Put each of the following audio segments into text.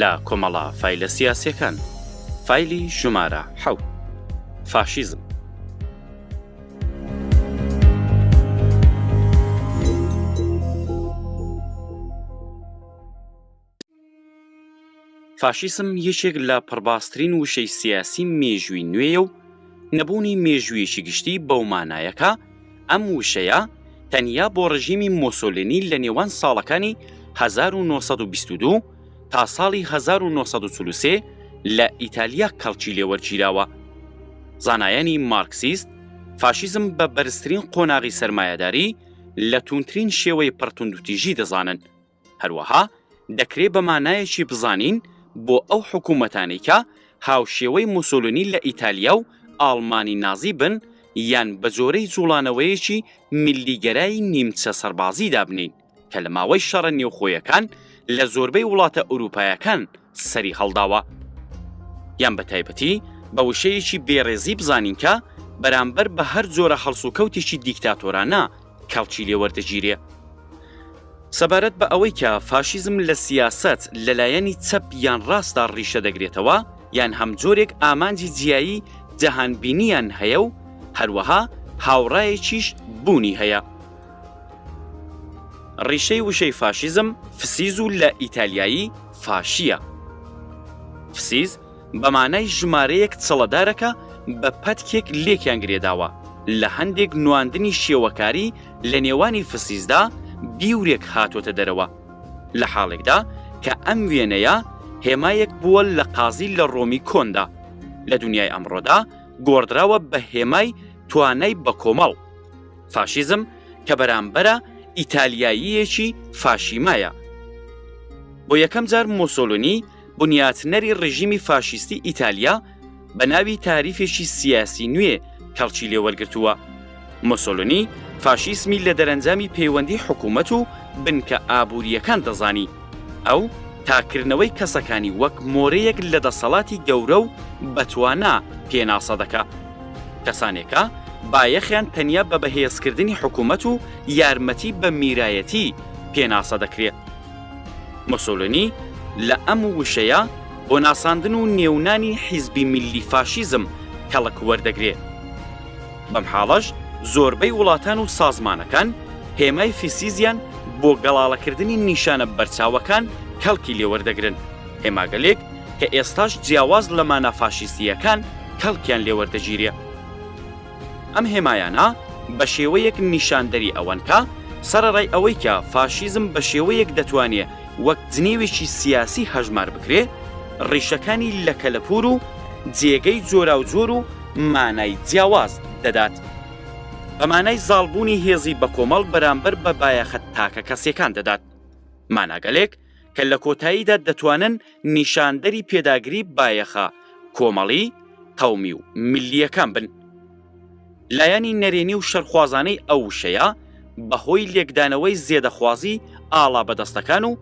لە کۆمەڵە فایلە سیاسیەکان فایلی ژمارە حەوت فاشیزم. فاشیسم یەکێک لە پڕباسترین وشەی سیاسی مێژووی نوێیە و نەبوونی مێژوویەکی گشتی بەومانایەکە ئەم وشەیە تەنیا بۆ ڕژیمی مۆسۆلینی لە نێوان ساڵەکانی هەزار و نۆ سەد و بیست و دوو تا ساڵی هەزار و نۆ سەد و چل و سێ لە ئیتالیا کەڵکی لێ وەرگیراوە. زانایانی مارکسیست فاشیزم بە بەرزترین قۆناغی سەرمایەداری لە تووندترین شێوەی پڕ توندوتیژی دەزانن. هەروەها دەکرێ بە مانایەکی بزانین بۆ ئەو حکوومەتانەی کە هاوشێوەی موسۆلینی لە ئیتالیا و ئاڵمانی نازی بن یان بە جۆرەی جووڵانەوەیەکی میللیگەرای نیمچە سەربازی دابنێین کە لە ماوەی شەڕە نێوخۆیەکان لە زۆربەی وڵاتە ئورووپایەکان سەری هەڵداوە یان بە تایبەتی بە وشەیەکی بێڕێزی بزانین کە بەرامبەر بە هەر جۆرە هەڵسوکەوتێکی دیکتاتۆرانە کەڵکی لێ وەردەگیرێ. سەبارەت بە ئەوەی کە فاشیزم لە سیاسەت لە لایەنی چەپ یان ڕاستدا ڕیشە دەگرێتەوە یان هەم جۆرێک ئامانجی جیایی جەهانبینییان هەیە و هەروەها هاوڕایەکیش بوونی هەیە. ڕیشەی وشەی فاشیزم فسیز و لە ئیتالیایی فاشییە. فسیز بە مانای ژمارەیەک چڵەدارەکە بە پەتکێک لێکیان گرێداوە، لە هەندێک نواندنی شێوەکاری لە نێوانی فسیسدا بیورێک هاتۆتە دەرەوە، لە حاڵێکدا کە ئەم وێنەیە هێمایەک بووە لە قازی لە ڕۆمی کۆندا، لە دونیای ئەمڕۆدا گۆڕدراوە بە هێمای توانای بەکۆمەڵ. فاشیزم کە بەرامبەرە ئیتالیاییەکی فاشیمایە. بۆ یەکەم جار مۆسۆلونی، بنیاتنەری ڕێژیمی فاشیستی ئیتالیا بە ناوی تاریفێکی سیاسی نوێ کەڵکی لێ وەرگرتووە. مۆسۆلۆنی فاشیسمی لە دەرەنجامی پەیوەندی حکوومەت و بنکە ئابوورییەکان دەزانی. ئەو تاککردنەوەی کەسەکانی وەک مۆرەیەک لە دەسەڵاتی گەورە و بەتوانا پێناسە دەکا. کەسانێکە بایەخیان تەنیا بە بەهێزکردنی حکوومەت و یارمەتی بە میرایەتی پێناسە دەکرێ. موسولینی لە ئەم وشەیە بۆ ناساندن و نێونانی حیزبی میللی فاشیزم کەڵک وەردەگرێ. بەم حاڵەش زۆربەی وڵاتان و سازمانەکان هێمای فسیزیان بۆ گەڵاڵەکردنی نیشانە بەرچاوەکان کەڵکی لێ وەردەگرن، هێماگەلێک کە ئێستاش جیاواز لە مانا فاشیستییەکان کەڵکیان لێ وەردەگیرێ. ئەم هێمایانە بە شێوەیەک نیشاندەری ئەوەن کە، سەرەڕای ئەوەی کە فاشیزم بە شێوەیەک دەتوانێ وەک جنێوێکی سیاسی هەژمار بکرێ، ڕیشەکانی لە کەلەپوور و جێگەی جۆراوجۆر و مانای جیاواز دەدات. بە مانای زاڵبوونی هێزی بەکۆمەڵ بەرامبەر بە بایەخە تاکەکەسییەکان دەدات. ماناگەلێک کە لە کۆتاییدا دەتوانن نیشاندەری پێداگری بایەخە کۆمەڵی، قەومی و ملییەکان بن. لایەنی نەرێنی و شەرخوازانەی ئەو وشەیە بە هۆی لێکدانەوەی زێدەخوازی ئاڵا بەدەستەکان و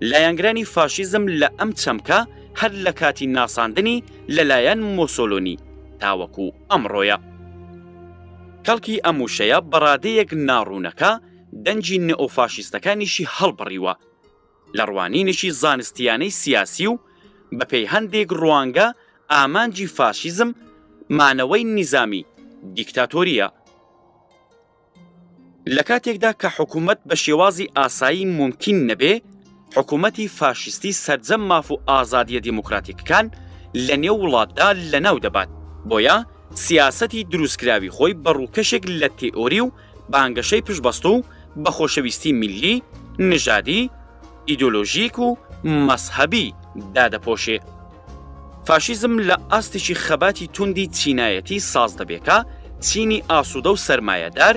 لایەنگرانی فاشیزم لە ئەم چەمکە هەر لە کاتی ناساندنی لە لایەن مۆسۆلۆنی تاوەکو ئەمڕۆیە. کەڵکی ئەم وشەیە بە ڕادەیەک ناڕوونەکە دەنگی نئۆفاشیستەکانیشی هەڵبڕیوە. لە ڕوانینێکی زانستییانەی سیاسی و بەپێی هەندێک ڕوانگە ئامانجی فاشیزم مانەوەی نیزامی دیکتاتۆرییە، لە کاتێکدا کە حکوومەت بە شێوازی ئاسایی مومکین نەبێ، حکوومەتی فاشیستی سەرجەم ماف و ئازادییە دیموکراتیکەکان لە نێو وڵاتدا لەناو دەبات، بۆیە سیاسەتی دروستکراوی خۆی بە ڕووکەشێک لە تێئۆری و بانگەشەی پشتبەستوو بە خۆشەویستی میللی، نژادی، ئیدۆلۆژیک و مەزهەبی دادەپۆشێ. فاشیزم لە ئاستێکی خەباتی توندی چینایەتی ساز دەبێ کە چینی ئاسوودە و سەرمایەدار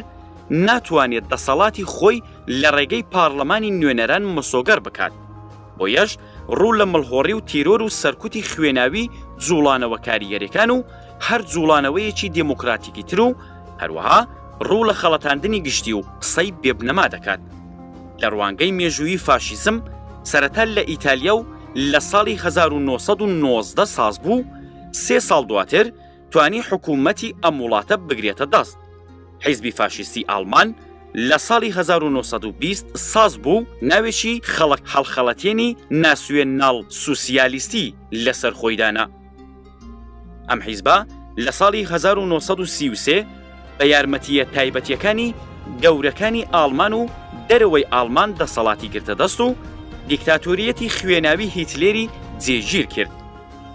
ناتوانێ دەسەڵاتی خۆی لە ڕێگەی پارڵمانی نوێنەران مسۆگەر بکات، بۆیەش ڕوو لە مڵهۆڕی و تیرۆر و سەرکوتی خوێناوی جووڵانەوە کاریگەرەکان و هەر جووڵانەوەیەکی دێمۆکڕاتیکیتر و هەروەها ڕوو لە خەڵەتاندنی گشتی و قسەی بێ بنەما دەکات. لە ڕوانگەی مێژوویی فاشیزم سەرەتا لە ئیتالیا و لە ساڵی هەزار و نۆ سەد و نۆزدە ساز بوو، سێ ساڵ دواتر توانی حکوومەتی ئەم وڵاتە بگرێتە دەست. حیزبی فاشیستی ئاڵمان لە ساڵی هەزار و نۆ سەد و بیست ساز بوو، ناوێکی خەڵک هەڵخەڵەتێنی ناسیۆناڵ سوسیالیستی لەسەر خۆی دانا. ئەم حیزبە لە ساڵی 1933 بە یارمەتییە تایبەتییەکانی گەورەکانی ئاڵمان و دەرەوەی ئاڵمان دەسەڵاتی گرتە دەست و دیکتاتۆریەتی خوێناوی هیتلێری جێگیر کرد.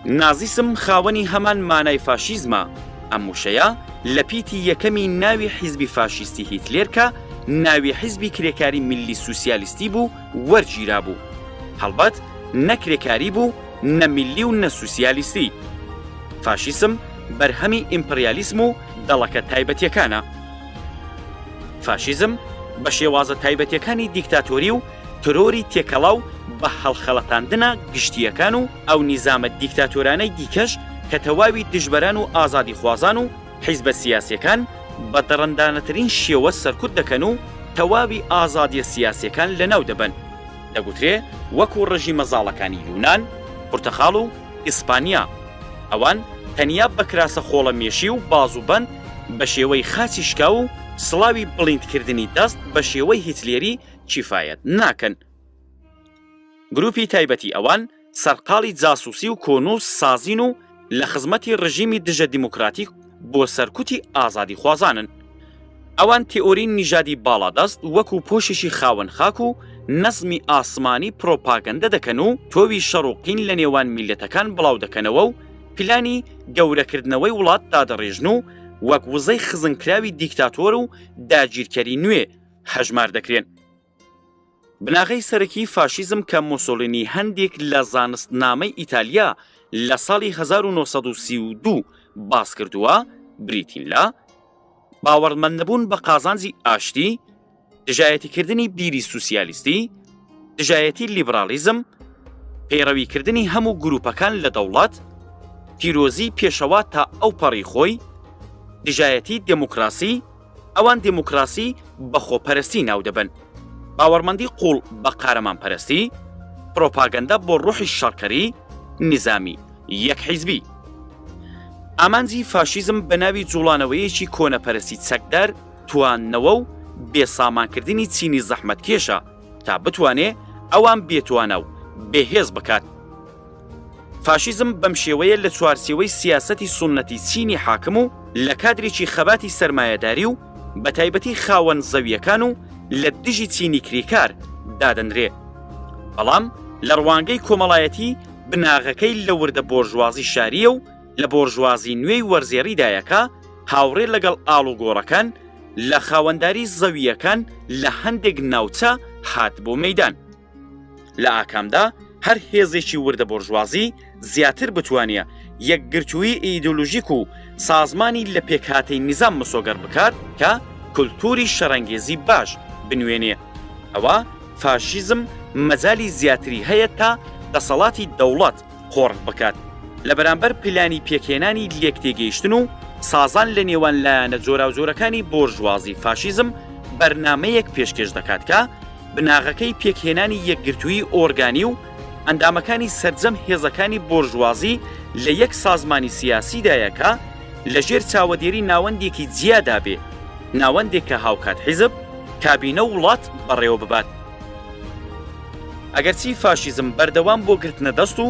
نازیسم خاوەنی هەمان مانای فاشیزمە، ئەم وشەیە لە پیتی یەکەمی ناوی حیزبی فاشیستی هیتلێر کە ناوی حیزبی کرێکاری میللی سوسیالیستی بوو وەرگیرابوو. هەڵبەت نە کرێکاری بوو، نە میللی و نە سوسیالیستی. فاشیسم بەرهەمی ئیمپریالیسم و دەڵەکە تایبەتیەکانە. فاشیزم بە شێوازە تایبەتیەکانی دیکتاتۆری و ترۆری تێکەڵا و بە هەڵخەڵەتاندنە گشتییەکان و ئەو نیزامە دیکتاتۆرانەی دیکەش کە تەواوی دژبەران و ئازادیخوازان و حیزبە سیاسیەکان بە دڕندانەترین شێوە سەرکوت دەکەن و تەواوی ئازادیە سیاسیەکان لەناو دەبەن. دەگوترێ وەکو ڕژیمە زاڵەکانی یونان، پرتەقاڵ و ئیسپانیا، ئەوان تەنیا بە کراسە خۆڵە مێشی و بازوبەند بە شێوەی خاچی شکاو و سڵاوی بڵیندکردنی دەست بە شێوەی هیتلێری کیفایەت ناکەن. گروپی تایبەتی ئەوان، سەرقاڵی جاسووسی و کۆنووس سازین و لە خزمەتی ڕژیمی دژە دیموکراتیک بۆ سەرکوتی ئازادیخوازانن. ئەوان تێئۆری نیژادی باڵادەست وەکوو پۆشێکی خاوەن خاک و نەزمی ئاسمانی پڕۆپاگەندە دەکەن و تۆوی شەڕ و قین لە نێوان میللەتەکان بڵاو دەکەنەوە و پلانی گەورەکردنەوەی وڵات دادەڕێژن و وەک وزەی خزنکراوی دیکتاتۆر و داگیرکەری نوێ هەژمار دەکرێن. بناغەی سەرەکیی فاشیزم کە مۆسۆلینی هەندێک لە زانستنامەی ئیتالیا لە ساڵی هەزار و نۆ سەد و سی و دوو باس کردووە، بریتین لە، باوەڕمەندنەبوون بە قازانجی ئاشتی، دژایەتیکردنی بیری سوسیالیستی، دژایەتی لیبراڵیزم، پەیڕەویکردنی هەموو گرووپەکان لە دەوڵەت، پیرۆزیی پێشەوا تا ئەوپەڕی خۆی، دژایەتی دێموکراسی، ئەوان دیموکراسی بە خۆپەرستی ناو دەبەن، باوەڕمەندی قووڵ بە قارەمانپەرستی، پرۆپاگەندە بۆ ڕۆحی شەڕکەری، نیزامی یەک حیزبی. ئامانجی فاشیزم بە ناوی جووڵانەوەیەکی کۆنەپەرستی چەکدار، تواندنەوە و بێسامانکردنی چینی زەحمەتکێشە، تا بتوانێ ئەوان بێتوانا و بێهێز بکات. فاشیزم بەم شێوەیە لە چوارچێوەی سیاسەتی سوننەتی چینی حاکم و لە کادرێکی خەباتی سەرمایەداری و بە تایبەتی خاوەن زەوییەکان و لە دژی چینی کریکار دادەنرێ. بەڵام لە ڕوانگەی کۆمەڵایەتی بناغەکەی لە وردە بۆرژوازی شارییە و لە بۆرژوازی نوێی وەرزێڕیدایە کە هاوڕێ لەگەڵ ئاڵوگۆڕەکان لە خاوەنداری زەوییەکان لە هەندێک ناوچە هات بۆ مەیدان. لە ئاکامدا هەر هێزێکی وردە بۆرژوازی زیاتر بتوانێ یەکگرتوویی ئیدۆلۆژیک و سازمانی لە پێکهاتەی نیزام مسۆگەر بکات کە کولتووری شەڕەنگێزی باش بنوێنێ، ئەوا فاشیزم مەجالی زیاتری هەیە تا دەسەڵاتی دەوڵەت، قۆرغ بکات لە بەرامبەر پلانی پێکهێنانی لێکتێگەیشتن و سازان لە نێوان لایەنە جۆراوجۆرەکانی بۆرژوازی فاشیزم بەرنامەیەک پێشکێش دەکات کە بناغەکەی پێکهێنانی یەکگرتووی ئۆرگانی و ئەندامەکانی سەرجەم هێزەکانی بۆرژوازی لە یەک سازمانی سیاسیدایە کە لە ژێر چاوەدێری ناوەندێکی جیادا بێ ناوەندێک کە هاوکات حیزب کابینە و وڵات بەڕێوە ببات. ئەگەرچی فاشیزم بەردەوام بۆ گرتنە دەست و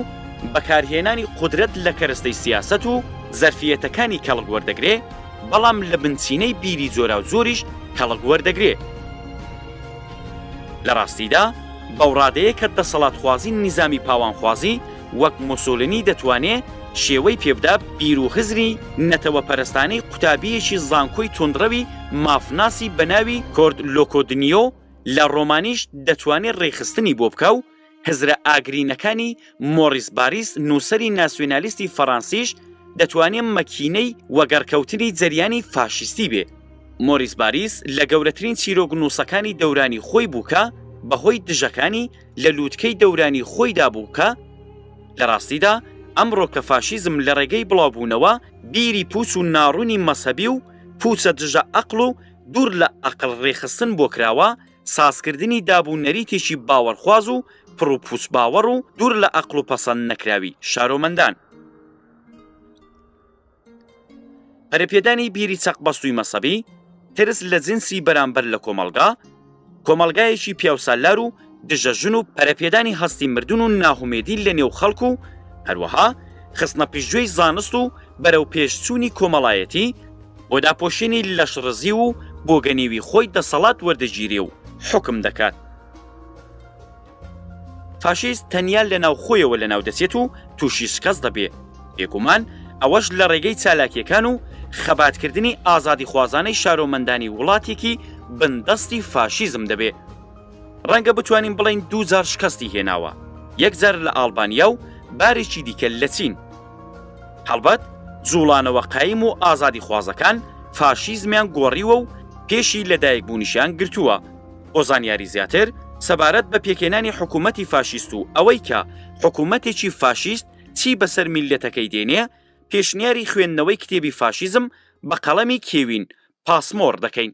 بەکارهێنانی قودرەت لە کەرەستەی سیاسەت و زەرفیەتەکانی کەڵک وەردەگرێ، بەڵام لە بنچینەی بیری جۆراوجۆریش کەڵک وەردەگرێ. لە ڕاستیدا بەوڕادەیە کە دەسەڵاتخوازی نیزامی پاوانخوازی وەک مۆسۆلنی دەتوانێ شێوەی پێبدا بیر و هزری نەتەوەپەرستانەی قوتابییەکی زانکۆی توندڕەوی مافناسی بە ناوی کۆرد لۆکۆدنیۆ لە ڕۆمانیش دەتوانێ ڕێکخستنی بۆ بکا و هزرە ئاگرینەکانی مۆڕیس باریس نووسەری ناسیۆنالیستی فەڕانسیش دەتوانێ مەکینەی وەگەڕکەوتنی جەریانی فاشیستی بێ. مۆریس باریس لە گەورەترین چیرۆکنووسەکانی دەورانی خۆی بوو کە بە هۆی دژەکانی لە لووتکەی دەورانی خۆیدا بوو کە لە ڕاستیدا ئەمڕۆ کە فاشیزم لە ڕێگەی بڵاوبوونەوە بیری پووچ و ناڕوونی مەزهەبی و پووچە دژە ئەقڵ و دوور لە ئەقڵ ڕێکخستن بۆ کراوە، سازکردنی داب و نەریتێکی باوەڕخواز و پڕ و پووچ باوەڕ و دوور لە ئەقڵ و پەسەند نەکراوی شارۆمەندان. پەرەپێدانی بیری چەقبەستووی مەسەبی، ترس لە جنسی بەرامبەر لە کۆمەڵگا، کۆمەڵگایەکی پیاوسالار و دژە ژن و پەرەپێدانی هەستی مردن و ناهومێدی لە نێو خەڵک و هەروەها خستنە پیشگوێی زانست و بەرەو پێشچوونی کۆمەڵایەتی بۆ داپۆشینی لەش ڕزی و بۆگەنیوی خۆی دەسەڵات وەردەگیرێ و حوکم دەکات. فاشیست تەنیا لە ناوخۆیەوە لەناو دەچێت و تووشی شکەست دەبێ، بێگومان ئەوەش لە ڕێگەی چالاکییەکان و خەباتکردنی ئازادیخوازانەی شارۆمەندانی وڵاتێکی بندەستی فاشیزم دەبێ. ڕەنگە بتوانین بڵێین دوو جار شکەستی هێناوە، یەک جار لە ئاڵبانیا و بارێکی دیکە لە چین. هەڵبەت جووڵانەوە قایم و ئازادیخوازەکان فاشیزمیان گۆڕیوە و پێشی لەدایکبوونیشیان گرتووە. بۆ زانیاری زیاتر سەبارەت بە پێکهێنانی حکوومەتی فاشیست و ئەوەی کە حکوومەتێکی فاشیست چی بەسەر میللەتەکەی دێنێ، پێشنیاری خوێندنەوەی کتێبی فاشیزم بە قەڵەمی کێوین پاسمۆر دەکەین.